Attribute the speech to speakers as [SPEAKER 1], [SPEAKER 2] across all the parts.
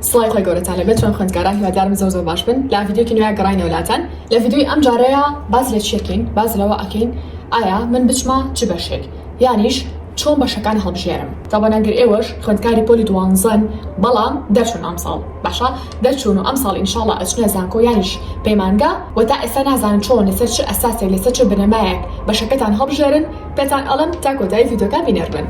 [SPEAKER 1] سڵاوی خوای گەورەتان لەبێت چۆن خوێندکاران هیوادارم زۆر زۆر باش بن لە ڤیدیۆکی نوێیا گەڕاینەوە لاتان لە ڤیدیۆی ئەم جارەیا باس لە چیەکەین باس لەوە ئەکەین ئایا من بچمە چ بەشێک یانیش چۆن بەشەکان هەڵبژێرم تۆ بەنان گەر ئێوەش خوێندکاری پۆلی دوانزەن بەڵام دەرچون ئەمساڵ باشە دەرچون و ئەمساڵ ان شاءاللە ئەچنە زانکۆ یانیش پەیمانگا وە تا ئێستا نازانن چۆن لەسەر چ ئەساسێک لەسەر چ بنەمایەک بەشەکەتان هەڵبژێرن پێتان ئەڵێم تا کۆتایی ڤیدیۆکە بینەربن.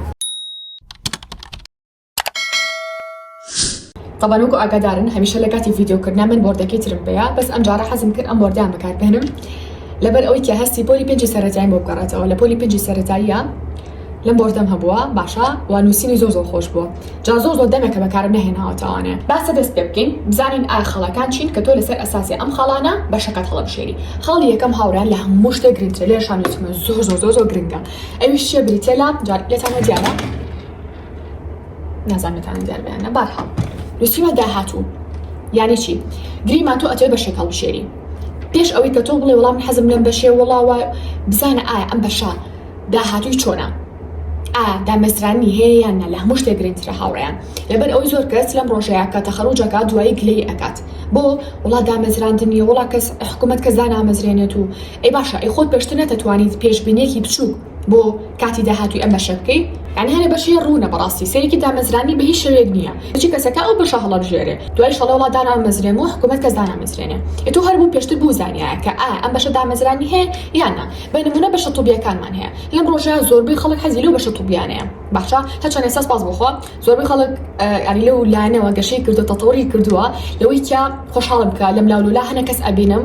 [SPEAKER 1] تەبەن وەکو ئاگادارن هەمیشە لە کاتی ڤیددیو کردنا من بۆردەکەی ترم پێەیە بەس ئەم جارە حەزم کرد ئەم بۆردیان بەکاربێنم لەبەر ئەوی کە هەستی پۆلی پێنجی سەرەتایم بۆ بگەڕێتەوە لە پۆلی پێنجی سەرەتاییە لەم بۆردەم هەبووە باشە و نووسینی زۆ زۆ خۆش بووە جا زۆ زۆ دەمێکە بەکارم نهێناوەتەوانێ باسە دەست پێ بکەین بزانین ئا خەڵەکان چین کە تۆ لەسەر ئەساسی ئەم خاڵانە بە شەکەت هەڵبشێری خاڵی یەکەم هاوران لە هەموو شتێک گرنگتر لێشانوتمە زۆ زۆ زۆ زۆ گرنگە ئەویش چیە بریتە لە جار لێتانە دیارە نازانم نەتوانم دیار بەیان نە بارحاڵ نووسیوە داهاتوو یانی چی گریما تۆ ئەتێ بەشێک هەڵبشێری پێش ئەوەی کە تۆ بڵێ وەڵام حەزم لەم بەشێ وڵاوە بزانە ئایا ئەم بەشە داهاتووی چۆنا دامەزرانی هەیە یان نە لە هەموو شتێک گرنگترە هاوڕیان لەبەر ئەوی زۆر کەس لەم ڕۆژەیە کە تەخەڕوجەکە دوایی گلەی ئەکات بۆ وڵا دامەزراندنی وڵا کەس حکوومەت کەس دانامەزرێنێت و ئەی باشە ئەی خۆت پێشتر نەتەتوانیت پێشببینێکی بچووک بۆ کاتی داهاتوی ئەم بەشە بکەی یانی هەرە بەشی ڕونە بەڕاستی سەیرێکی دامەزرانی بە هیچ شێوەیەک نییە بچی کەسەکە ئەو بەشە هەڵەبژێرێ دوایش ئەڵێ وەڵا دانامەزرێم و حکومەت کەس دانامەزرێنێ ئێ تۆ هەر بۆ پێشتر بوزانیایە کە ئایا ئەم بەشە دامەزرانی هەیە یان نا بە نمونە بەشە طوبیەکانمان هەیە لەم ڕۆژە زۆربەی خەڵک حەزی لەو بەشە طوبیانەیە باشە هەرچەندە ئێستا سپاس بۆخوا زۆربەی خەڵک یانی لەو لایەنەوە گەشەی کردو تەتەوری کردووە لەوەی کیا خۆشحاڵم کە لەم لاو لەولا هەنە کەس ئەبینم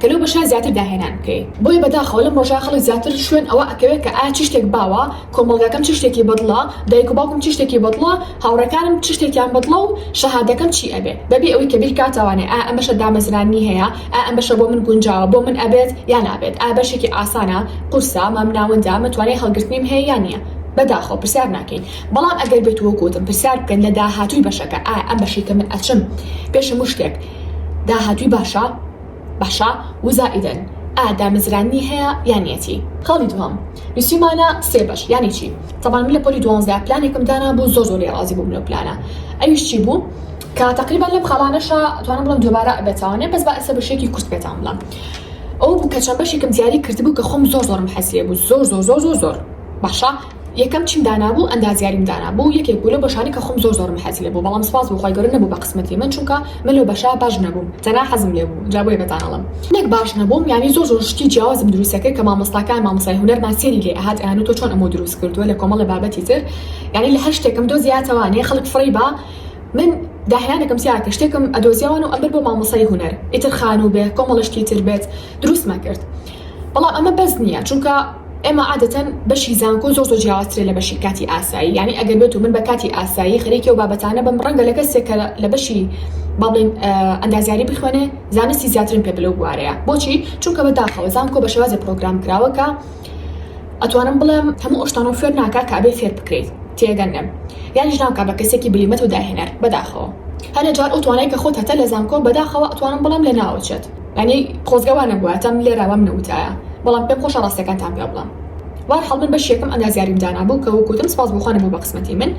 [SPEAKER 1] کە لەو بەشە زیاتر داهێنان بکەی. بۆیە بەداخەوە لەم ڕۆژە خەڵک زیاتر شوێن ئەوە ئەکەوێت کە ئایا چ شتێک باوە، کۆمەڵگاکەم چ شتێکی بەدڵە، دایک و باوکم چ شتێکی بەدڵە، هاوڕێکانم چ شتێکیان بەدڵە و شەهادەکەم چی ئەبێ، بەبێ ئەوەی کە بیرکاتەوانێ ئایا ئەم بەشە دامەزرانی هەیە، ئایا ئەم بەشە بۆ من گونجاوە، بۆ من ئەبێت یا نابێت، ئایا بەشێکی ئاسانە، قورسە، مامناوەندە، مە توانای هەڵگرتنیم هەیە یا نیە. بەداخەوە پرسیار ناکەین. بەڵام ئەگەر بێت و وەکو وتم پرسیار بکەن لە داهاتووی بەشەکە، ئایا ئەم بەشەی کە من ئەچم پێش هەموو شتێک داهاتووی باشە، باشە وزائیدەن ئا دامەزراننی هەیە یان یەتی. خاڵی دووهەم نوسیومانە سێ بەش یانی چی تەبان من لە پۆلی دوانزە پلانێکم دانابوو زۆر زۆر لێی ڕازی بووم لەو پلانە ئەویش چی بوو کە تەقریبەن لەم خاڵانەشا توانم بڵێم دووبارە ئەبێتەوە نێ بەس با ئێستا بە شێکی کورت پێتان بڵێم ئەوە بوو کە چەند بەشێکم دیاری کردبوو کە خۆم زۆر زۆرم حەز لێ بوو زۆر زۆر زۆر زۆر زۆر باشە یەکەم چیم دانابوو ئەندازیاریم دانابوو یەکێک بوو لەو بەشانەی کە خۆم زۆر زۆرم حەزی لێبوو بەڵام سوپاس بۆ خوای گەورە نەبوو بە قسمەتی من چونکە من لەو بەشە باش نەبووم تەنها حەزم لێبوو جا بۆیە پێتان ئەڵێم نەک باش نەبووم یانی زۆر زۆر شتی جیاوازم دروست ئەکرد کە مامۆستاکان مامۆستای هونەرمان سەیری لێ ئەهات ئەیانوت تۆ چۆن ئەمەو دروست کردووە لە کۆمەڵێ بابەتی تر یانی لە هەر شتێکم دۆزیاتەوە نێ خەڵک فڕێی با من داهێنانێکم تیا کرد شتێکم ئەدۆزیەوەن و ئەمبرد بۆ مامۆستای هونەر ئیتر خانوو بێ کۆمەڵە شتی تر بێت دروستمە کرد بەڵام ئەمە بەس نییە چونکە ئێمە عادەتەن بەشی زانکۆ زۆر زۆر جیاوازترە لە بەشی کاتی ئاسایی یانی ئەگەر بێت و من بە کاتی ئاسایی خەریکی ئەو بابەتانە بم ڕەنگە لە کەسێک کە لە بەشی با بڵێین ئەندازیاری بخوێنێ زانستی زیاترم پێ بلەو بوارەیە بۆچی چونکە بە داخەوە زانکۆ بە شێوازی پرۆگرام کراوە کە ئەتوانم بڵێم هەموو ئەشتانەوە فێر ناکە کە ئەبێ فێر بکرێیت تێگەنم یانیش ناکە بە کەسێکی بلیمەت و داهێنەر بەداخەوە هەنێ جار ئەو توانای کە خۆت هەتە لە زانکۆ بەداخەوە ئەتوانم بڵێم لە ناوەچێت یانی خۆزگە وا نەبوایەتم لێرە وام نەوتایە بەڵام پێم خۆشە ڕاستەکانتان پێ بڵێم وارحاڵ من بەشی یەکەم ئەندازیاریم دانابوو کە وەک وتم سپاس بۆ خوا نەبوو بە قسمەتی من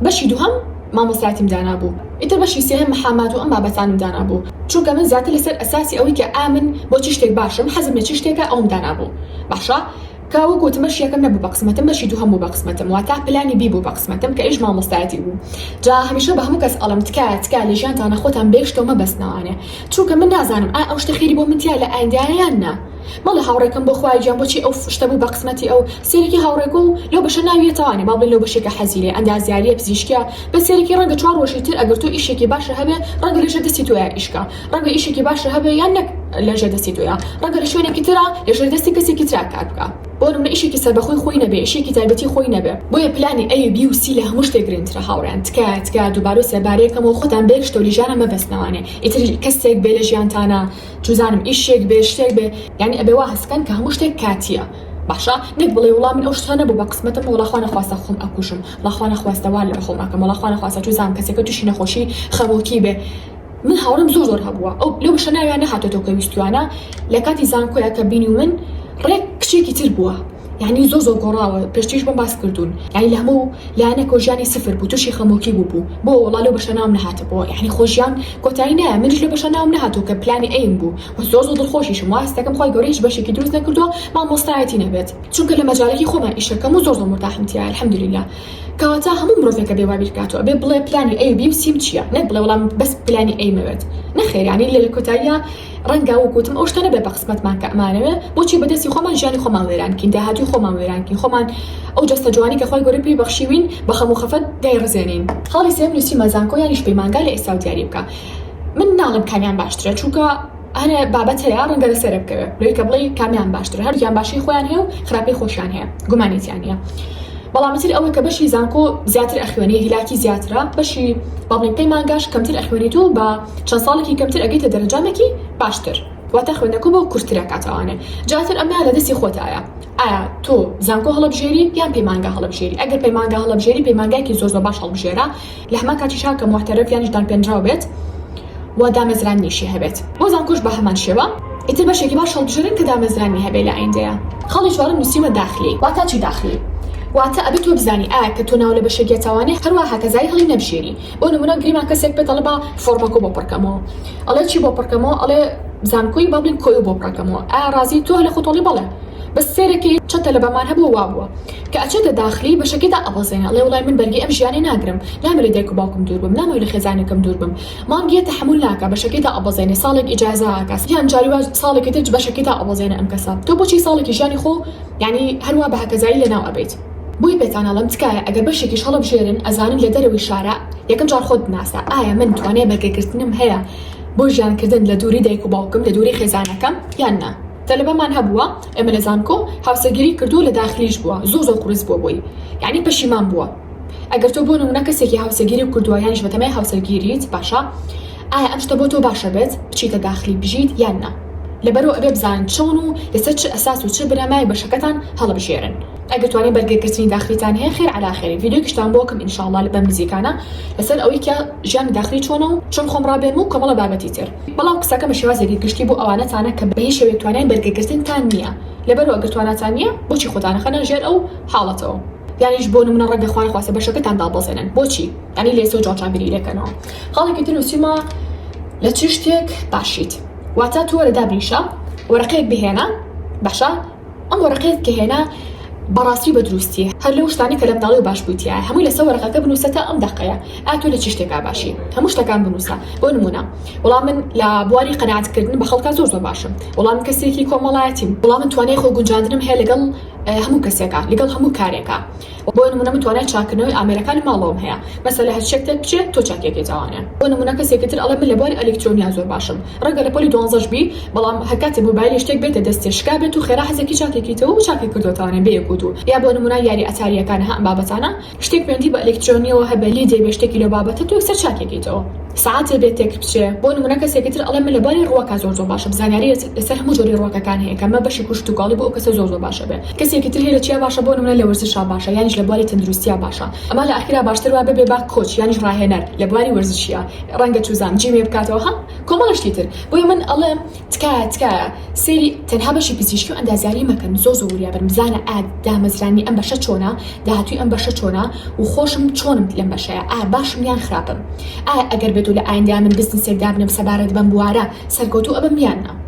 [SPEAKER 1] بەشی دووهەم مامۆستایەتیم دانابوو ئیتر بەشی سێهەم محامات و ئەم بابەتانم دانابوو چونکە من زیاتر لەسەر ئەساسی ئەوەی کە ئامن بۆ چ شتێک باشم حەزم لە چ شتێکە ئەوم دانابوو باشە کا وەک وتم بەشی یەکەم نەبوو بە قسمەتم بەشی دووهەم بوو بە قسمەتم واتا پلانی بی بوو بە قسمەتم کە ئیش مامۆستایەتی بوو جا هەمیشە بە هەموو کەس ئەڵێم تکایە تکایە لە ژیانتانا خۆتان بێ شتەو مەبەستنەوانێ چونکە من نازانم ئایا ئەو شتە خێری بۆ من تیایە لە ئایندایە یان نا مەڵێ هاوڕێکەم بۆ خوایە گیان بۆچی ئەو شتە بوو بە قسمەتی ئەو سەیرکی هاوڕێکۆ و لەو بەشە ناوی یەتەوانێ با بڵێن لەو بەشەی کە حەزی لێیە ئەندازیاریە پزیشکیە بەس سەیرکی ڕەنگە چوار ڕۆژی تر ئەگەر تۆ ئیشێکی باشە هەبێ ڕەنگە لەژێر دەستی تۆیا ئیش کا ڕەنگە ئیشێکی باشە هەبێ یان نەک لە ژێر دەستی تۆیە ڕەنگە لە شوێنێکی ترا لە ژێر دەستی کەسێکی ترا کار بکە بۆ نمونە ئیشێکی سەربەخۆی خۆی نەبێ ئیشێکی تایبەتی خۆی نەبێ بۆیە پلانی ئەی بی و سی لە هەموو شتێک گرنگترە هاوڕێیان تکایە تکایە دووبارە و سێبارەیە کەمەوە خۆتان بە یەک شتەوە لیژانە مەبەستنەوانێ ئیتر کەسێک بێ لە ژیانتانە چوزانم ئیشێک بێ شتێک بێ یانی ئەبێ وا هەست بکەن کە هەموو شتێک کاتییە باشە نەک بڵێ وڵا من ئەو شتە نەبوو بە قسمەتم وڵا خوا نەخواستە خۆم ئەکوژم وڵا خوا نەخواستە وا لە خۆم ئەکەم وڵا خوا نەخواستە چوزانم کەسێکە تووشی نەخۆشی خەمۆکی بێ من هاوڕێم زۆر زۆر هەبووە ئەو لەو بەشە ناویان نەهاتۆتەوە کە ویستویانە لە کاتی زانکۆیە کە بینی و من ڕێک کچێکی تر بووە یعنی زۆر زۆر گۆڕاوە پێشتریش بۆم باس کردوون یعنی لە هەموو لایەنێکەوە ژیانی سفر بوو تووشی خەمۆکی بووبوو بۆ وەڵا لەو بەشە ناوم نەهاتبووە یعنی خۆ ژیان کۆتایی نایە منیش لە بەشە ناوم نەهاتوو کە پلانی ئەیم بوو و زۆر زۆر دڵخۆشیشم وا هەست دەکەم خوای گەورە هیچ بەشێکی دروست نەکردووە مامۆستایەتی نەبێت چونکە لە مەجالێکی خۆمە ئیشەکەم و زۆر زۆر مورتاحم تیایە الحمدللە کەواتە هەموو مرۆڤێک ئەبێ وا بیر بکاتەوە ئەبێ بڵێ پلانی ئەی و بی و سی و چییە نەک بڵێ وەڵام بەس پلانی ئەیم ئەوێت نەخێر یانی لە کۆتاییا ڕەنگە وەک وتم ئەو شتانە بێ بە قسمەتمان کە ئەمانەوێ بۆچی بە دەستی خۆمان ژیانی خۆمان وێران بکەین داهاتووی خۆمان وێران بکەین خۆمان ئەو جەستە جوانی کە خوای گەورە پێی بەخشیوین بە خەم و خەفەت دایڕزێنین خاڵی سێیەم نووسیمە زانکۆ یانیش پەیمانگا لە ئێستا و دیاری بکا من ناڵێم کامیان باشترە چونکە ئەرێ بابەتەیە ڕەنگە لە سەرە بکەوێ لۆی کە بڵێی کامیان باشترە هەردووکیان باشی خۆیان هەیە و خراپەی خۆشیان هەیە گومانی تیا نیە بەڵام تر ئەوەی کە بەشی زانکۆ زیاتر ئەخوێنی هیلاکی زیاترە بەشی با بڵێین پەیمانگاش کەمتر ئەخوێنیت و بە چەند ساڵێکی کەمتر ئەگەیتە دەرەجامێکی باشتر واتە خوێندنەکە بۆ کورتتر ئەکاتەوانێ جا تر ئەمەیان لە دەستی خۆتایە ئایا تۆ زانکۆ هەڵەبژێری یان پەیمانگا هەڵەبژێری ئەگەر پەیمانگا هەڵەبژێری پەیمانگایەکی زۆر زۆر باش هەڵبژێرە لە هەمان کاتیشا کە موحتەرەف یانیش دانپێنراو بێت و دامەزراننیشی هەبێت بۆ زانکۆش بە هەمان شێوە ئیتر بەشێکی باش هەڵبژێرن کە دامەزراننی هەبێت لە ئایندەیا خاڵی چوارەم نوسیومە داخلی. واتا چی داخلی؟ واتا ئەبێ تۆ بزانی ئایا کە تۆ ناو لە بەشێک یە تاوانێ هەروا هەکەزای هەڵی نەبژێری بۆ نمونە گریمان کەسێک پێت ئەڵێ با فۆڕمەکۆ بۆ پڕکەمەوە ئەڵێ چی بۆ پڕکەمەوە ئەڵێ زانکۆی با بڵین کۆیە بۆ پڕکەمەوە ئایا ڕازی تۆ لە خۆتۆڵی بەڵێ بەس سێرەکی چەتە لە بەمان هەبووە وابووە. کە ئەچێتە داخلی بەشەکەیدا ئەبەزێنێ ئەڵێ وەڵای من بەرگەی ئەم ژیانەی ناگرم نامەوێ لە دایک و باوکم دوور بم نامەوێ لە خێزانەکەم دوور بم مانگێ تەحەمول ناکا بەشەکەیدا ئەبەزێنێ ساڵێک ئیجازە ئەکا یان جاری وا ساڵێکی تر بەشەکەیدا ئەبەزێنێ ئەم کەسە تۆ بۆچی ساڵێکی ژیانی خۆو یانی هەروا بە هەکەزایی لەناو ئەبەیت بۆیە پێتان ئەڵێم تکایە ئەگەر بەشێکیش هەڵەبژێرن ئەزانن لە دەرەوەی شارە یەکەم جار خۆت بناسە ئایا من توانای بەرگەگرتنم هەیە بۆ ژیان کردن لە دووری دایک و باوکم لە دووری خێزانەکەم یان نا؟ تەلەبەمان هەبووە ئێمە لە زانکۆ هاوسەرگیری کردوو لە داخلیش بووە زۆر زۆر قورس بووە بۆی یانی پەشیمان بووە ئەگەر تۆ بۆ نمونە کەسێکی هاوسەگیری کردووە یانیش بەتەمای هاوسەرگیریت باشە ئایا ئەم شتە بۆ تۆ باشە بێت بچیتە داخلی بژیت یان نا لەبەرو ئەبێ بزانن چۆن و لەسەر چ ئەساس و چ بنەمای بەشەکەتان هەڵبژێرن ئەگەر توانی بەرگەگرتنی داخلیتان هەیە خێر عەلا خێر ڤیدیۆکیشتان بۆ بکەم ان شاء اللە بەم نزیکانە لەسەر ئەوەی کە ژیانی داخلی چۆنە و چۆن خۆم ڕابێنم و کۆمەڵە بابەتی تر. بەڵام قسەکە بە شێوازێکی گشتی بۆ ئەوانەتانە کە بە هیچ شێوەیەک توانای بەرگەگرتنتان نییە، لەبەرئەوە ئەگەر تواناتان نییە بۆچی خۆتان ئەخەنە ژێر ئەو حاڵەتەوە؟ یانیش بۆ نموونە ڕەنگە خوا نەخواستە بەشەکەتان دابەزێنن بۆچی؟ یانی لێسە و جاڕجاڕبیری لێکەنەوە. خاڵێکی تر نووسیومە، لە چ شتێک باشیت؟ واتە تۆ وەرە دابنیشە، وەرەقەیەک بهێنە، باشە؟ ئەم وەرەقەیەت کە هێنا بەڕاستی و بە دروستی هەر لەو شتانەی کە لە مناڵی و باش بووی تیایە هەمووی لەسەر وەرەقەکە بنووسە تا ئەم دەقەیە ئایا تۆ لە چی شتێکا باشی هەموو شتەکان بنووسە بۆ نموونە وەڵا من لە بواری قەناعەتکردن بە خەڵکا زۆر زۆر باشم وەڵا من کەسێکی کۆمەڵایەتیم وەڵا من توانای خۆگونجاندنم هەیە لەگەڵ هەموو کەسێکا لەگەڵ هەموو کارێکا بۆ نمونە من توانای چاککردنەوەی ئامێرەکانی ماڵەوەم هەیە مەسەلە هەر چیەک تێک بچێت تۆ چاکیە پێتاوانە بۆ نمونە کەسێکی تر ئەڵێ من لە بواری ئەلیکترۆنیا زۆر باشم ڕەنگە لە پۆلی دوانزەش بی بەڵام هەر کاتێ موبایلێ شتێک بێتە دەستێ شکابێت و خێرا حەزێکی چاکێکیتەوە و چاکی کردۆتاوانە بێ یەک و دوو یا بۆ نمونە یاری ئەتاریەکان ها ئەم بابەتانە شتێک پەیوەندی بە ئەلیکترۆنیەوە هەبێ لیدێ بێ شتێکی لەو بابەتە تۆ یەکسەر چاکی کەیتەوە سەعاتێ بێ تێک بچێ بۆ نمونە کەسێکی تر ئەڵێ من لە باری ڕوەکا زۆر زۆر باشم زانیاری لەسەر هەموو جۆری ڕوەکەکان هەیە کە مە بەشی کوشت و کاڵی بۆ ئەو کەسە زۆر زۆر باشە بێ کەسێکی تر هەیە لە چیا باشە بۆ نمونە لە وەرزشا باشە یانیش لە بواری تەندروستیا باشە ئەما لە ئاخیرا باشتر وا ببێ با کۆچ یانیش ڕاهێنەر لە بواری وەرزشیا ڕەنگە چوزان جیمێ بکاتەوە هە کۆمەڵە شتی تر بۆیە من ئەڵێم تکایە تکایە سەیری تەنها بەشی پزیشکی و ئەندازیاری مەکەن زۆر زۆر وریا بن بزانە ئا دامەزرانی ئەم بەشە چۆنە داهاتووی ئەم بەشە چۆنە و خۆشم چۆنم لەم بەشەیە ئا باشم یان خراپم ئایا ئەگەر بێت و لە ئایندەیا من بزنسێک دابنێم سەبارەت بەم بوارە سەرکەوتوو ئەبم یان نا.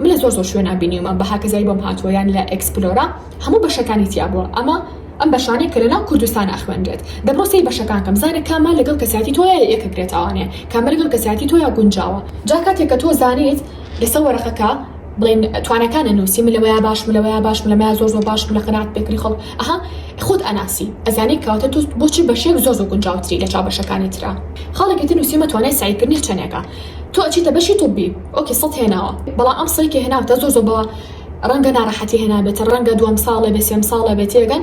[SPEAKER 1] من لە زۆر زۆر شوێنا بینیومە بە هاکەزای بۆم هاتووە یان لە ئەکسپلۆرا هەموو بەشەکانی تیا بووە ئەمە ئەم بەشانەی کە لەناو کوردستان ئەخوێنرێت دەبڕۆ سەی بەشەکانکەم زانە کامە لەگەڵ کەسیاتی تۆیە یەکە گرێتاوانێ کامە لەگەڵ کەسیاتی تۆیە گونجاوە جا کاتێک کە تۆ زانیت لەسەر وەرەقەکە بڵێن توانەکانە نووسی من لەوەیا باش من لەوەیا باش من لەمەیا زۆر زۆر باش من لە قەنات پێکری خەڵک ئەها خۆت ئەناسی ئەزانی کەواتە تۆ بۆچی بەشێک زۆر زۆر گونجاوتری لە چاو بەشەکانی ترا خاڵێکی تر نووسیمە توانای سەعیکردنی چەندێکە تۆ ئەچیتە بەشی طبی ئۆکێ سەد هێناوە بەڵام ئەم سەی کە هێناوتە زۆر زۆر بە ڕەنگە ناڕەحەتی هێنابێتە ڕەنگە دووەم ساڵێ بێ سێم ساڵە بێت تێگەن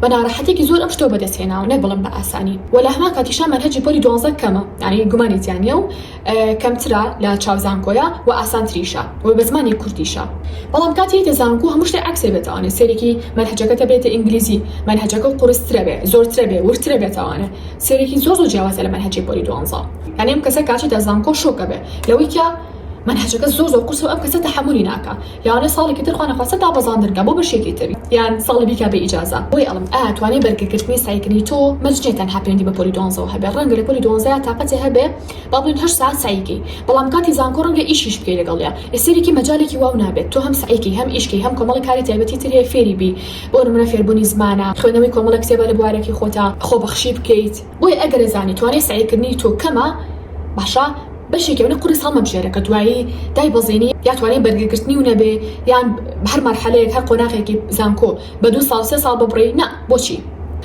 [SPEAKER 1] بە ناڕەحەتێکی زۆر ئەم شتۆ بەدەست هێناوە نەک بڵم بە ئاسانی و لە هەمان کاتیشا مەرهەجی پۆلی دوانزە کەمە یعنی گومانی تیانە و کەمترە لە چاو زانکۆیە و ئاسانتریشە و بە زمانی کوردیشە بەڵام کاتی یتە زانکو هەموو شتێ عکسێ بێتوانێت سێرێکی مەرهەجەکەتە بێتە ئینگلیزی مەرهەجەکە و قورسترە بێ زۆرترە بێ ورترە بێتوانێت سێرێکی زۆر زۆر جیاوازە لە مەرهەجی پۆلی دوانزە ئەنێم کەسە کاچیتە زانکۆ شۆک ئەبێ لەوەی کە مەنهەجەکە زۆر زۆر قورسە و ئەم کەسە تەحەمولی ناکا لەوانە ساڵێکی تر خوانەخواستە دابەزاندن کا بۆ بەشێکی تر یان ساڵی بیکا بە ئیجازە بۆیە ئەڵێم ئایا توانای بەرگەگرتنی سەعیکردنی تۆ مەرج نیە تەنها پەیوەندی بە پۆلی دوانزەوە هەبێ ڕەنگە لە پۆلی دوانزە یا تاقەتێ هەبێ با بڵێن هەشت سەعات سەعی کەی بەڵام کاتی زانکۆ ڕەنگە ئیشیش بکەی لەگەڵیا ئێ سەیرێکی مەجالێکی واو نابێت تۆ هەم سەعی کەی هەم ئیش کەی هەم کۆمەڵێ کاری تایبەتی تر هەیە فێری بی بۆ نمونە فێربونی زمانە خوێندنەوەی کۆمەڵێ کتێبە لە بوارەکەی خۆتا خۆبەخشی بکەیت. بۆیە ئەگەر ئەزانی توانای سەعیکردنی تۆ کەمە باشە بەشێکی ئەونە قوڕیس هەڵمەبژێرە کە دوایی دایبەزێنی یا توانای بەرگەگرتنی و نەبێ یان هەر مەرحەلەیەک هەر قۆناغێکی زانکۆ بە دوو ساڵ سێ ساڵ ببڕی نا بۆچی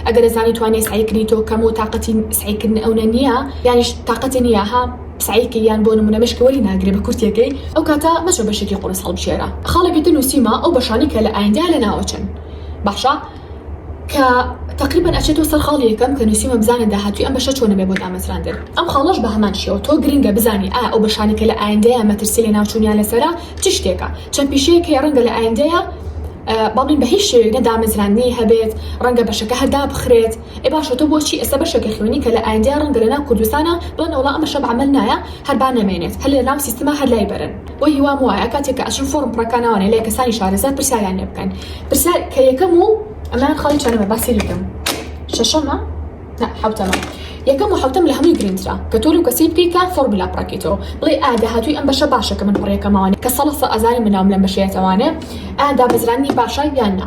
[SPEAKER 1] ئەگەر ئەزانی توانای سەعیکردنی تۆ کەمە و تاقەتی سەعیکردنی ئەونە نییە یانیش تاقەتی نییە ها سەعیکەی یان بۆ نموونە مێشکی وەلی ناگرێ بە کورتییەکەی ئەو کاتە مەچە بەشێکی قوڕیس هەڵبژێرە خاڵێکی تر نووسیومە ئەو بەشانەی کە لە ئایندەیا لەناوەچن باشە. کە تقریبان ئەچێتەوە سەر خاڵی یەکەم کە نووسیمە بزانە داهاتوی ئەم بەشە چۆنە بێ بۆ دامەزراندن ئەم خاڵەش بە هەمان شێوە تۆ گرنگە بزانی ئا ئەو بەشانە کە لە ئایندەیە مەترسی لە ناوچوونیان لەسرە چ شتێکە چەند پیشەیەک هەیە ڕەنگە لە ئایندەیە بەڵین بە هیچ شێوێک نەدامەزراندنی هەبێت ڕەنگە بەشەکە هەردا بخرێت ئێ باشە تۆ بۆچی ئێستا بەشەکە خوێنی کە لە ئایندەیە ڕەنگە لە ناو کوردستانە بڵێنەوەڵا ئەم بەشە بە عمل نایە هەر با نەمێنێت هەر لە ناو سیستما هەر لای بەرن بۆ هیوام وایە کاتێک کە ئەچن فۆرم پڕەکانەوانێ لای کەسانی شارەزا پرسیاریان لێ بکەن پرسیار کە یەکەم و ئەمان خاڵی چەنەمە باسی لەکەم شەشەمە حوتەمە یەکەم و حوتەم لە هەمووی گرنگترا کە تۆ لەو کەسی بکەیت کە فۆرملا پڕەکەیتەوە بڵێ ئادا هاتووی ئەم بەشە باشە کە من پڕیەکەمەوانێ کە سەڵەفە ئەزانی مناوم لەم بەشەیەتەوانێ ئادا بەزرانی باشە یان نا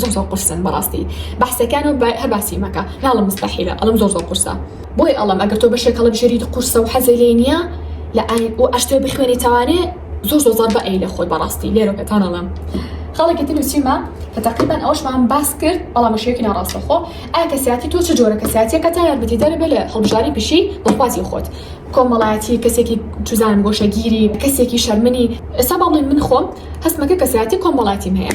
[SPEAKER 1] زۆر زۆر قورسن بەڕاستی بەحسەکانو هەر باسی مەکە ناڵم مستەحیلە ئەڵم زۆر زۆر قورسە بۆی ئەڵم ئەگەر تۆ بەشێک هەڵەبژێریت قورسە و حەزی لێی نییە لە ئای و ئەشتێ بخوێنیتەوانێ زۆر زۆر زەربە ئەی لە خۆت بەڕاستی لێرە پێتان ئەڵم خەڵکی تر نووسیمە کە تقریبان ئەوشمان باس کرد بەڵام شێکی ناڕاستەخۆ ئایا کەسیاتی تۆ چ جۆرە کەسیاتیەکە تا یارمەتی دەر بێ لە هەڵبژاری پیشی بەخوازی خۆت کۆمەڵایەتی کەسێکی چزان گۆشەگیری کەسێکی شەرمنی ئێستا باڵێ من خۆم هەستمەکە کەسیاتی کۆمەڵاتیم هەیە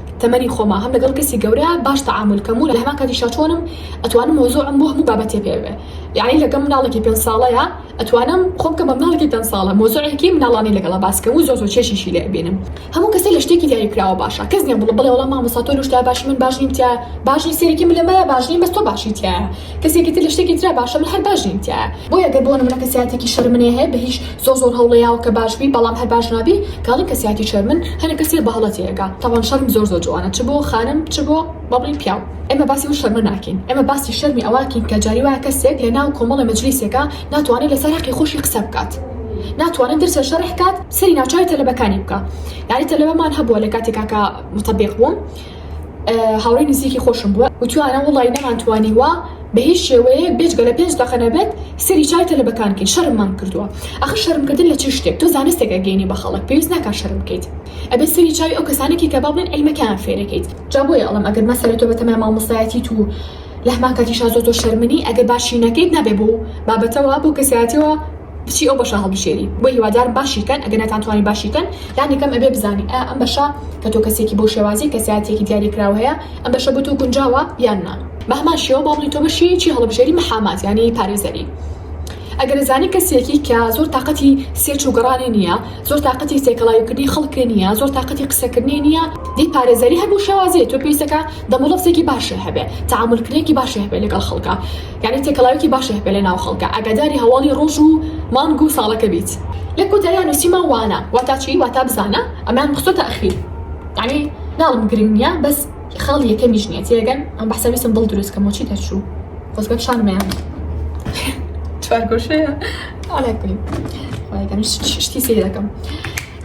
[SPEAKER 1] تەمەنی خۆمە هەم لەگەڵ کەسی گەورە باش تەعامول کەم و لە هەمان کاتیشا چۆنم ئەتوانم مەوزوعم بۆ هەموو بابەتێ پێ بێ یەعنی لەگەم مناڵێکی پێنج ساڵەیا ئەتوانم خۆم کەم بە مناڵێکی دە ساڵە مەوزوعێکی مناڵانی لەگەڵا باس کەم و زۆر زۆر چێشیشی لێ ئەبینم هەموو کەسێ لە شتێکی دیاری کراوە باشە کەس نیە بڵێ بەڵێ وەڵا مامۆستا تۆ لەو شتە باشی من باش نیم تیایە باش نی سەیرێکی ملمایە باش نیم بەس تۆ باشی تیایە. کەسێکی تر لە شتێکی ترا باشە من هەر باش نیم تیایا بۆیە گەر بۆ نمونە کەسیاتێکی شەر منێ هەیە بە هیچ زۆر زۆر هەوڵێ یاوە کە باش بی بەڵام هەر باش نابی کاڵی کەسیاتی شەر من هەنێ کەسێ بە هەڵە تێگا تاوان شەرم زۆر زۆر جوانە چ بۆ خانم چ بۆ با بڵین پیاو ئێمە باسی و شەرمە ناکین ئێمە باسی شەرمی ئەواکین کە جاری وایە کەسێک لە ناو کۆمەڵێ مەجلیسێکا ناتوانێ لە سەر هەقی خۆشی قسە بکات ناتوانێ درسێ شەرح کات سەری ناوچوی تەلەبەکانی بکا یاری تەلەبەمان هەبووە لە کاتێکا کە متەبێق بووم هاوڕێی نزیکی خۆشم بووە وتوانە وڵی نەمان توانیوە بە هیچ شێوەیە بێجگە لە پێنج دەقە نەبێت سەری چای تەلەبەکان کەین شەرممان کردووە ئەخر شەرمکردن لە چی شتێک تۆ زانستێک ئەگەینی بە خەڵک پێویست ناکا شەرم بکەیت ئەبێ سەری چاوی ئەو کەسانێکی کە بابڵێن عیلمەکەیان فێرەکەیت جا بۆیە ئەڵێم ئەگەر مەسەلە تۆ بەتەمای مامۆستایەتیت و لە هەمان کاتیشا زۆر زۆر شەرمنی ئەگەر باشی نەکەیت نابێ بۆ بابەتەوە بۆ کەسایەتیەوە کچی ئەو بەشە هەڵبژێری بۆی هیوادارم باشی کەن ئەگەر نەتان توانی باشی کەن لانی کەم ئەبێ بزانی ئایا ئەم بەشە کە تۆ کەسێکی بۆ شێوازی کەسایەتیەکی دیاری کراو هەیە ئەم بەشە بۆ تۆ گونجاوە یان نا بە هەمان شێوە با بڵی تۆ بەشی چی هەڵبژێری محامات یانی پارێزەری ئەگەر ئەزانی کەسێکی کە زۆر تااقەتی سێرچ و گەڕانی نییە زۆر تااقەتی سێکەڵایوکردنی خەڵکێ نییە زۆر تااقەتی قسەکردنی نییە دی پارێزەری هەر بۆ شێوازی تۆ پێویستەکە دەموڵەفزێکی باشێ هەبێ تەعامولکرێکی باشێ هەبێ لەگەڵ خەڵکا یانی تێکەڵاوێکی باشی هەبێت لەناو خەڵکا ئاگاداری هەواڵی ڕۆژ و مانگ و ساڵەکە بیت. لە کۆتاییا نوسیمان وانە واتا چی واتا بزانە ئەمەیان خستۆتە ئەخیر یانی ناڵم گرنگ نیە بەس خاڵی یەکەمیش نیە تێگەن ئەم بەحسە ویستم دڵ دروست کەم بۆچی تەرچوو خۆزگە پیشانم نەیان چوار گۆشەیە ئالا کولین خوای گەورە شتی سەیرەکەم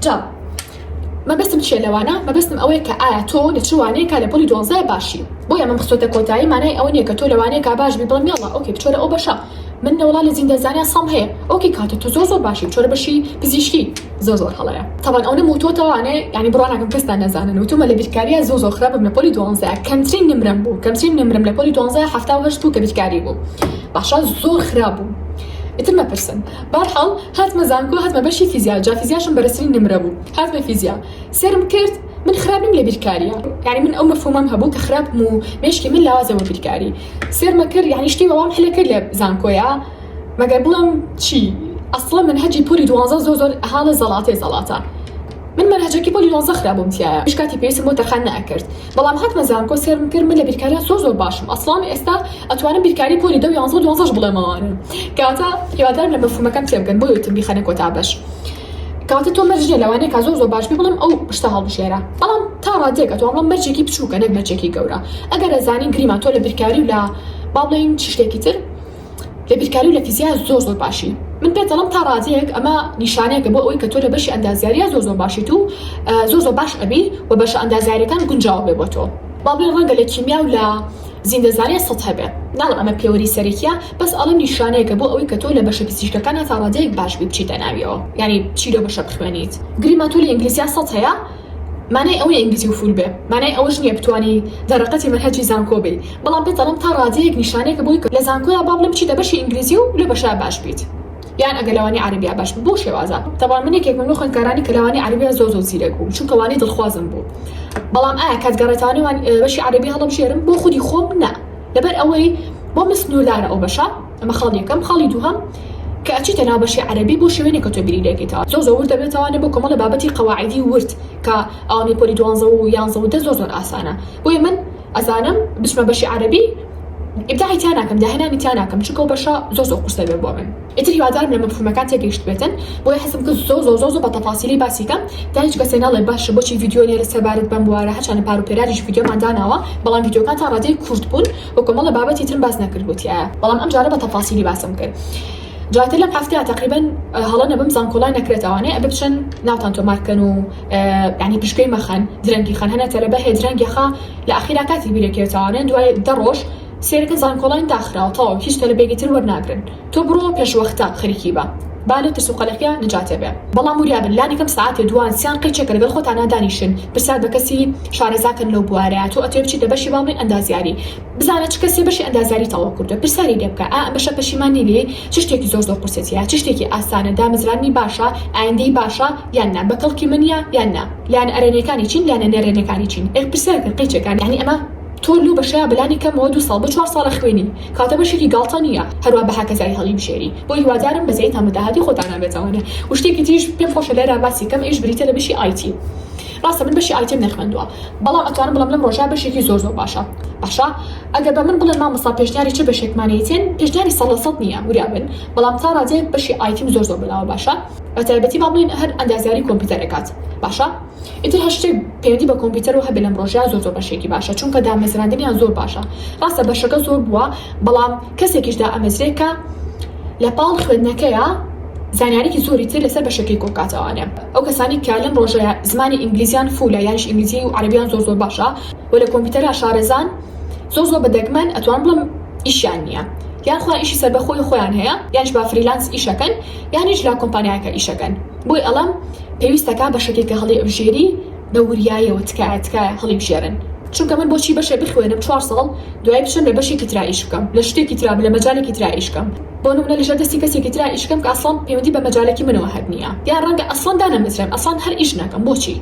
[SPEAKER 1] جا مەبەستم چیە لەوانە مەبەستم ئەوەیە کە ئایا تۆ لە چ وانەیەکا لە پۆلی دوانزە باشی بۆی ئەمەم خستۆتە کۆتایی مانای ئەوە نیە کە تۆ لەوانەیەکا باش بی بڵێم یەڵا ئۆکەی بچۆرە ئەو بەشە من لە وڵا لە زیندە زانیا سەم هەیە ئۆکەی کاتە تۆ زۆر زۆر باشی بچۆرە بەشی پزیشکی زۆر زۆر هەڵەیە تەبەن ئەو نەموو تۆ تەوانێ ینی بڕوا ناکەم کەستا نەزانن و تومە لە بیرکاریە زۆ زۆ خراپم لە پۆلی دوانزە کەمترین نمرەم بوو کەمترین نمرم لە پۆلی دوانزە حەفتا و هەشت بوو کە بیرکاری بوو باشە زۆر خراپ بوو ئیتر مەپرسن. بەرحاڵ هاتمە زانکۆ هاتمە بەشی فیزیا جا فیزیاشم بەرزترین نمرە بوو هاتمە فیزیا سێرم کرد من خراپ نیم لە بیرکاریە یانی من ئەو مەفهومەم هەبوو کە خراپم و مێشکی من لاوازە بۆ بیرکاری سێرمە کرد یانی شتی بەوام حلە کرد لە زانکۆیا مەگەر بڵێم چی ئەسڵە من هەجی پۆلی دوازە زۆر زۆر هاڵە زەڵاتێ زەڵاتە من مەنهەجەکی پۆلی دوازە خرابووم تیایە هیچ کاتی پێویستم بۆ تەرخان نەئەکرد بەڵام هاتمە زانکۆ سێرم کرد من لە بیرکاریا زۆر زۆر باشم ئەسڵان ئێستا ئەتوانم بیرکاری پۆلی دە و یانزە و دوانزەش بڵێمەوە کەواتە هیوادارم لە مەفهومەکەم تێبگەن بۆی وتم بیخەنە کۆتا بەش کەواتە تۆ مەرج نیە لەوانەیە کا زۆر زۆر باش بی بڵێم ئەو شتە هەڵبژێرە بەڵام تا ڕادەیەک ئەتوان بڵێم مەرجێکی بچووکە نەک مەرجێکی گەورە ئەگەر ئەزانی گریمان تۆ لە بیرکاری و لە با بڵێین چی شتێکی تر لە بیرکاری و لە فیزیا زۆر زۆر باشی من پێت دەڵم تا ڕادەیەک ئەمە نیشانەیەکە بۆ ئەوەی کە تۆ لە بەشی ئەندازیاریا زۆر زۆر باشیت و زۆر زۆر باش ئەبی و بەشە ئەندازیارەکان گونجاو بێ بۆ تۆ با بڵێن ڕەنگە لە کیمیا و لە زیندەزانیە سەد هەبێ ناڵم ئەمە پێوەری سەرەکیە بەس ئەڵم نیشانەیەکە بۆ ئەوەی کە تۆ لە بەشە پزیشکەکان هەتا ڕادەیەک باش بی بچیتە ناویەوە یانی بچی لەو بەشە بخوێنیت گریمان تۆ لە ئینگلیزیا سەد هەیە مانای ئەوە نیە ئینگلیزی و فول بێ مانای ئەوەش نیە بتوانی دەرەقەتی مەنهەجی زانکۆ بی بەڵام پێت دەڵێم تا ڕادەیەک نیشانەیەکە بۆی کە لە زانکۆیا با بڵێم بچیتە بەشی ئینگلیزی و لەو بەشە باش بیت یان ئەگەر لەوانی عەرەبیا باش بیت بەو شێوازە تەبان من یەکێکم لەو خوێندکارانی کە لەوانی عەرەبیا زۆر زۆر زیرەک بووم چونکە وانی دڵخوازم بوو بەڵام ئایا کات گەڕێتانەوە بەشی عەرەبی هەڵەبژێرم بۆ خودی خۆم نا لەبەر ئەوەی بۆ من سنووردارە ئەو بەشە ئەمە خاڵی یەکەم خاڵی دووهەم کە ئەچیتە ناو بەشی عەرەبی بۆ شوێنێک کە تۆ بیری لێکەیتەوە زۆر زۆر ورد دەبێتەوە بۆ کۆمەڵە بابەتی قەواعیدی ورد کە ئەوانەی پۆلی دوانزە و یانزە و دە زۆر زۆر ئاسانە بۆیە من ئەزانم بچمە بەشی عەرەبی ئیبداعی تیا ناکەم داهێنانی تیا ناکەم چونکە ئەو بەشە زۆر زۆر قورسە بێ بۆ من ئیتر هیوادارم لە مەفهومەکان تێگەیشتبێتن بۆیە حەزم کرد زۆر زۆر زۆر زۆر بە تەفاسیلی باسی کەم تا هیچ کەسێ نەڵێ باشە بۆچی ڤیدیۆ لێرە سەبارەت بەم بوارە هەرچەندە پار و پێراریش ڤیدیۆمان داناوە بەڵام ڤیدیۆکانتان ڕادەی کورت بوون و کۆمەڵە بابەتی ترم باس نەکردبوو تیایا بەڵام ئەم جارە بە تەفاسیلی باسم کرد جاتر لەم هەفتەیە تقریبن هەڵە نەبم زانکۆڵای نەکرێتەوانێ ئە بچن ناوتان تۆمارکەن و ینی پشکەی مەخەن درەنگی خەن هەنە تەلەبە هەیە درەنگیخە لە ئەخیرا کاتی بیرەکەوێتەوانێ دوای دە ڕۆژ سێرکە زانکۆڵاین داخراوە تەواو هیچ تەلبێگی تر وەرناگرن تۆ بڕۆ پێشوەختە خەریکی بە با لەو ترس و قەلەقیە نجاتێ بێ بەڵام وریا بن لانی کەم سەعاتێ دووان سیان قیچێکە لەگەڵ خۆتانا دانیشن پرسیار بە کەسی شارەزا کەن لەو بوارە تۆ ئەتوێ بچیتە بەشی باڵی ئەندازیاری بزانە چ کەسێ بەشی ئەندازیاری تەواو کردوە پرسیاری لێ بکە ئا ئەم بەشە پەشیمان نی لێی چ شتێکی زۆر زۆر قورسێتیە چ شتێکی ئاسانە دامەزراندنی باشە ئایندەی باشە یان نا بە کەڵکی منە یان نا لایەنە ئەرێنیەکانی چین لایەنە نەرێنیەکانی چین ئێ پرسیار کە قیچێکان یانی ئەمە تۆ لەو بەشەیا بە لانی کەمەوە دوو ساڵ بۆ چوار ساڵە خوێنی کاتە بەشێکی گاڵتە نیە هەروا بە هەکەزای هەڵیبژێری بۆ هیوادارم بەزەیتان بە داهاتی خۆتانا بێتەوەێ و شتێکی تریش پێم خۆشە لێرا باسی کەم ئەیش بریتە لە بشی ئایتی ڕاستە من بەشی ئایتیم نەخوێندوە بەڵام ئەتوانم بڵێم لەم ڕۆژا بەشێکی زۆر زۆر باشە باشە ئەگەر بە من بڵێن مامۆستا پێشنیاری چ بەشێکمانەیتێن پێشنیاری سەد لە سەد نیە وریا بن بەڵام تا ڕادەیەک بەشی ئایتیم زۆر زۆر بەلاوە باشە بە تایبەتی با بڵێن هەر ئەندازیاری کۆمپیوتەر ئەکات باشە ئیتر هەرشتێک پەیوەندی بە کۆمپیوتەرەوە هەبێت لەم ڕۆژە زۆر زۆر بەشێکی باشە چونکە دامەزراندنیان زۆر باشە ڕاستە بەشەکە زۆر بووە بەڵام کەسێکیش دا ئەمەزرێ کە لە پاڵ خوێندنەکەیە زانیارێکی زۆری تر لەسەر بەشەکەی کۆکاتەوانێ ئەو کەسانی کە لەم ڕۆژەیە زمانی ئینگلیزیان فولە یانش ئینگلیزی و عربیان زۆر زۆر باشە و لە کۆمپیوتەرە شارەزان زۆر زۆر بەدەگمەن ئەتوان بڵم ئیشیان نییە یان خۆیان ئیشی سەر بەخۆی خۆیان هەیە یانش با فریلانس ئیشەکەن یانیش لا کۆمپانیایەکە ئیشەکەن بۆی ئەڵم پێویست دەکات بەشەکێ کە هەڵی ئەبژێری بە وریایەوە تکایە تکایە هەڵی بژێرن چونکە من بۆچی بەشێ بخوێنم چوار ساڵ دوای بچم لە بەشێکی ترا ئیش بکەم لە شتێکی ترا لە مەجالێکی ترا ئیش بکەم بۆ نمونە لەژێر دەستی کەسێکی ترا ئیش بکەم کە ئەسڵەن پەیوەندی بە مەجالێکی منەوە هەر نییە یان ڕەنگە ئەسڵەن دانەمەزرێم ئەسڵەن هەر ئیش ناکەم بۆچی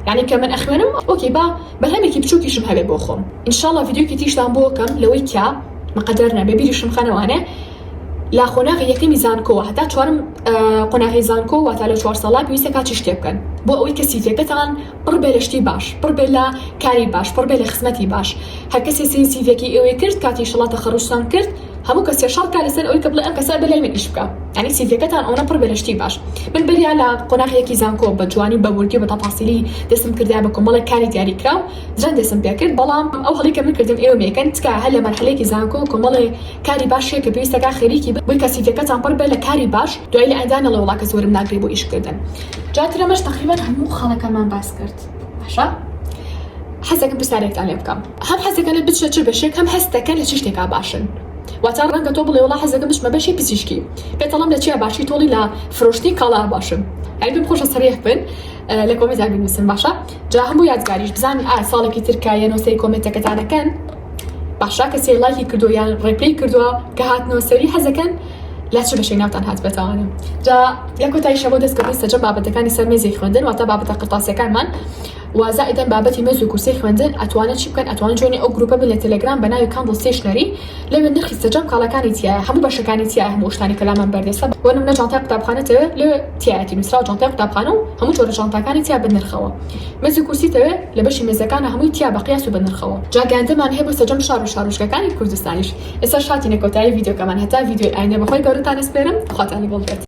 [SPEAKER 1] یانی کە من ئەخوێنم ئۆکەی با بەرهەمێکی بچووکیشم هەبێ بۆ خۆم ان شاء اللە ڤیدیۆکی تریشتان بۆ کەم لەوەی کە مقەدەر نەبێ بیریشم خەنەوانێ لە قۆناغی یەکەمی زانکۆوە هەتا چوارەم قۆناغی زانکۆ واتا لە چوار ساڵا پێویستە کاتی شتێ بکەن بۆ ئەوەی کە سیڤەکەتان پڕ بێ لە شتی باش پڕ بێ لە کاری باش پڕ بێ لە خزمەتی باش هەر کەسێ سین سیڤەکی ئێوەی کرد کاتی شڵا تەخەڕوجتان کرد هەموو کەسێ شەڕ کا لەسەر ئەوەی کە بڵێ ئەم کەسە بە لای من ئیش بکا یعنی سیڤەکەتان ئەوەنە پڕ بێ لە شتی باش من بریا لە قۆناغیەکی زانکۆ بە جوانی بە وردی و بە تەفاسیلی دەستم کردایە بە کۆمەڵێک کاری دیاری کراو جەند دەستم پێ کرد بەڵام ئەو هەڵەی کە من کردم ئێوە مەیکەن تکایە هەر لە مەرحەلەیەکی زانکۆ کۆمەڵێ کاری باش چیە کە پێویستە کە خەریکی بن کە سیڤیەکەتان پڕ بێ لە کاری باش دوای لە ئەندا نەڵێ وڵا کەس وەرم ناگرێ بۆ ئیش کردن جا ترە مەش تەقریبەن هەموو خەڵەکەمان باس کرد باشە حەزەکەم پرسیارێکتان لێ بکەم هەم حەزەکەنت بچە چ بەشێک هەم هەستەکە لە چ شتێکا باشن واتا ڕەنگە تۆ بڵێ وڵا حەزەکەم بچمە بەشی پزیشکی پێتەڵم لە چیا باشی تۆڵی لە فرۆشتی کاڵا باشن ئەی بم خۆشە سەریح بن لە کۆمێدا بنووسن باشە جا هەموو یادگاریش بزانین ئا ساڵێکی ترکایە نۆسەی کۆمێتەکەتانەکەن باشە کەسێ لایکی کردوە یان ڕێپلەی کردوە کە هاتنەوە سەری حەزەکەن لە چ بەشەی ناوتان هاتبێتەوانە جا لە کۆتایی شەمە دەستکردی سەرجەم بابەتەکانی سەر مێزی خوێندن واتە بابەتە قرتاسیەکانمان وازائدەن بابەتی مێز و کورسی خوێندن ئەتوانن چی بکەن ئەتوان جوێنی ئەو گروپە بن لە تەلەگرام بە ناوی کاندڵ ستیشنەری لەوێ نرخی سەرجەم کاڵەکانی تایە هەموو بەشەکانی تایە هەموو شتانی کەلامان بەردەسە بۆ نمونە جانتای قوتابخانەتەوێ لەوێ تایەتی نووسراو جانتای قوتابخانە و هەموو جۆرە جانتاکانی تیا بە نرخەوە مێزو کورسی تەوێ لە بەشی مێزەکانە هەمووی تیا بە قیاس و بە نرخەوە جا گەنجەمان هەیە بۆ سەجەم شار و شارۆچکەکانی کوردستانیش ئێستاش هاتینە کۆتایی ڤیدیۆکەمان هەتا ڤیدیۆی ئایندە بەخوای گەورەتان ئەسپێرم خواتان لەگەڵ بێت.